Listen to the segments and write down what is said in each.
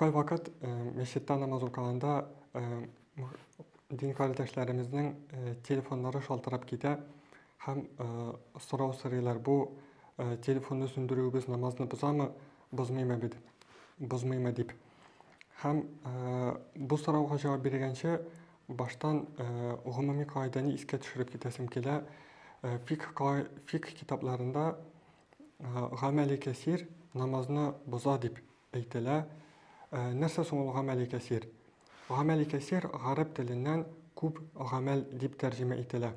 Кайвакыт мәчеттә намаз укыганда дин кардәшләремезнең телефоннары шалтырап китә һәм сорау сорыйлар, бу телефонны сүндерүебез намазны бозамы, бозмыймы бит, бозмыймы дип. Һәм бу сорауга җавап биргәнче баштан гомуми кагыйдәне искә төшереп китәсем килә. Фикх китапларында гамәли кәсир намазны боза дип әйтелә. Ә, нәрсә соң ул гамәли кәсир? Гамәли кәсир гарәп теленнән күп гамәл дип тәрҗемә ителә.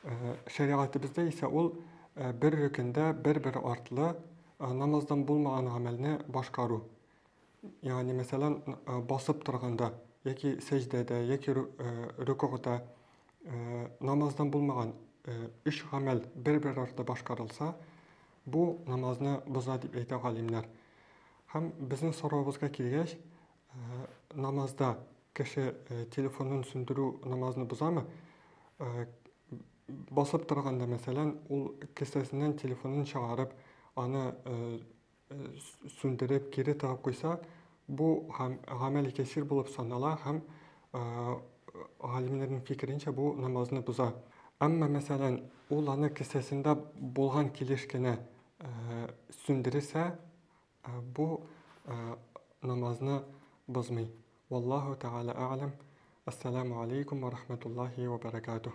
Ә, шәригатебездә исә ул ә, бер рөкендә бер-бер артлы ә, намаздан булмаган гамәлне башкару. Ягъни, мәсәлән, басып торганда яки сәҗдәдә, яки рөкүгъда намаздан булмаган өч гамәл бер-бер арты башкарылса, бу намазны боза дип әйтә галимнәр. Һәм безнең соравыбызга килгәч, намазда кеше телефонын сүндерү намазны бозамы? Басып торганда, мәсәлән, ул кесәсеннән телефонын чыгарып, аны сүндереп, кире тагып куйса, бу гам, гамәли кәсир булып санала һәм э, галимнәрнең фикеренчә бу намазны боза. Әмма, мәсәлән, ул аны кесәсендә булган килеш кенә э, сүндерсә, э, бу э, намазны бозмый. Валлаху тәгалә әгъләм. Ассаламу алейкум ва рахматуллахи ва баракатух.